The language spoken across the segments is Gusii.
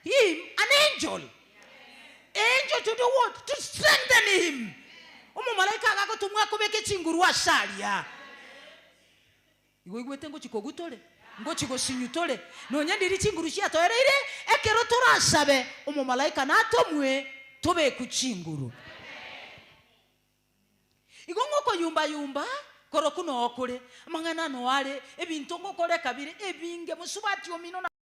him an angel, angel to do what? To strengthen him, omomalaika agagotumwa akobeke chinguru ase aria. Igo oigwete ngochi kogwa tore, ngochi gosinywa tore, nonya ndiri chinguru chiatoereire, ekero torasabe omomalaika natomwe tobekwe chinguru. Igo ngokoyumba yumba korokwo noo kore, amang'ana ano are, ebinto ngokore kabere, ebinge, mosubati omino na.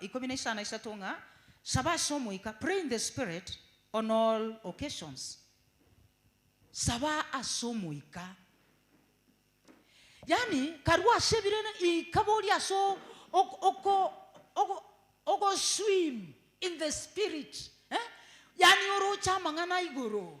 ikomi na isano na isato ng'a, Saba ase Omoika, pray in the Spirit on all occasions. Saba ase Omoika. Yaani, karua ase ebirene, ikaboria ase o- ok- oko- ogo- ogoswim in the Spirit, eh? Yaani oroche amang'ana igoro.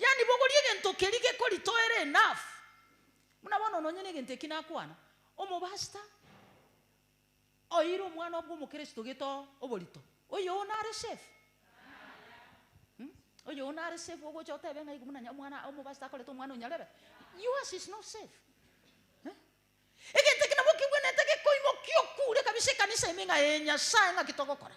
Yaani bogoria egento keria gekoritoera enough. Buna bono nonye negento eki nakwana, omobasta oeire omwana obwe omokristo geto oborito, oyoo nare safe? Mh? Oyoo nare safe ogocha otebe ng'a igo buna nya omwana omobasta akorete omwana onyarebe? Yours is not safe. Mh? Egento eke nabwo kigwenerete gekoimokia okure kabisa ekanisa ime ng'a ee Nyasae ng'aki togokora?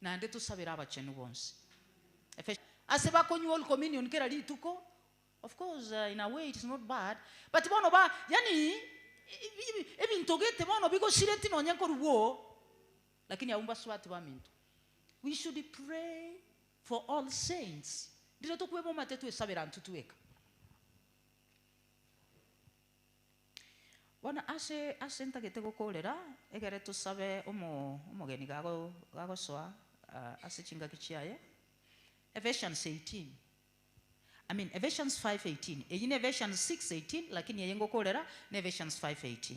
Naende tosabere abachenu bonsi. Efes. Ase bakonywa Holy Communion kera rituko, of course in a way it is not bad, but bono ba, yaani ebinto gete bono bigosireti nonye nkorugwa oo, lakini abwo mbasubati baminto. We should pray for all saints, rirotokwebomate twesabere antwe tweka. Bono ase ase ntagete gokoorera, egere tosabe omogeni gagosoa ase chingaki chiaye. Ephesians 18, I mean Ephesians 5:18, eyio ne Ephesians 6:18 lakini eye ngokoorera ne Ephesians 5:18.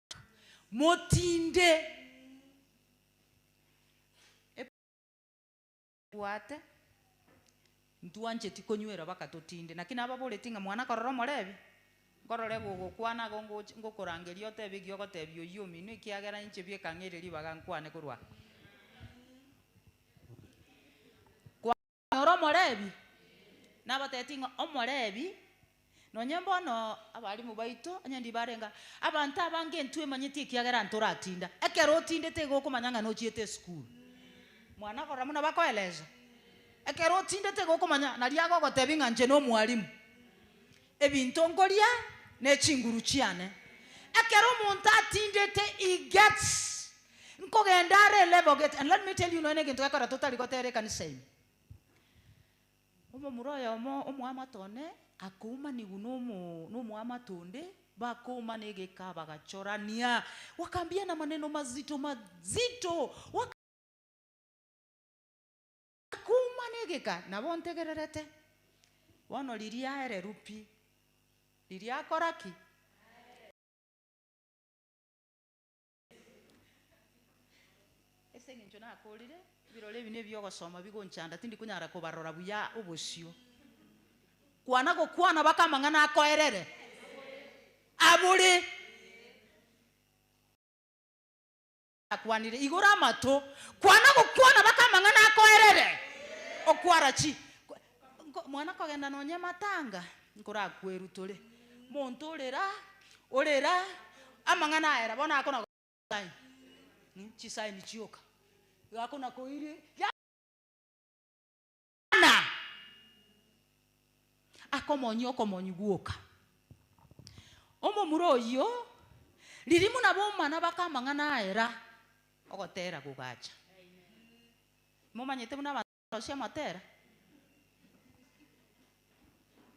Motinde ebisaku bwate, ntwancheti konywera baka totinde. Naki nababoretie ng'a mwana korora omorebi, nkorore gogokwana agwo ngoch- ngokorangerie otebe ekiya ogotebia oyio ominwe, ekiagera inche bieka ng'eire ribaga nkwane korwa aa. Ore Omolevi? Nabatebitie ng'a Omolevi, nonye bono abalimu baito onye ndibarenga, abanto abange intwe emanyeti ekiagera ntoratinda. Ekero otindete igo okomanya ng'a nochiete esukuru. Mwana akorora buna bakoeleza. Ekero otindete igo okomanya, naria agogotebi ng'a inche nomwalimu. Ebinto nkoria ne chinguru chiane. Ekero omonto atindete he gets nkogenda are level gate and let me tell you nonya na egento gekora totari gotera ekanisa ime. Omomura oyomo omoamate one akoumaniwu nomo nomoamate onde bakoumana egeka bagachorania wakambiana maneno mazito mazito waka. Kuuma negeka nabo ntegererete. Bono riria aereru pi, riria akora ki? Ase engencho nakorire, ebirore ebi nebio ogosoma bigonchanda tindi konyara kobarora buya obosio. Kwana gokwana baka amang'ana akoerere abore. Akwanire, Igora amato, kwana gokwana baka amang'ana akoerere, okwara chi nko, mwana kogenda nonye matanga, nkorakwerutore, monto ore ra, ore ra, amang'ana aera bono akona sign, chisign chioka, igo akona koiri, ya. Bwana akomonyie okomonyi gwoka. Omomura oyio, ririmu na boma nabake amang'ana aye ra ogotera gogacha. Momanyete buna abanto barosia amatera?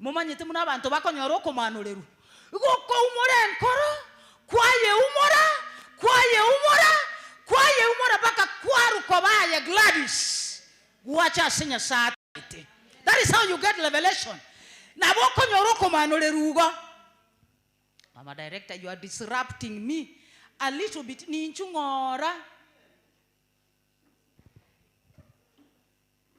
Momanyete buna abanto bakonyora okomaanorerwa, gokoumora enkoro, kwayeumora, kwayeumora, kwayeumora mpaka kwarwa koba aye Gladys, gwacha ase Nyasae atagete. That is how you get revelation. Nabo okonyora okomaanorerwa igo. Mama director you are disrupting me a little bit ninchu ng'ora.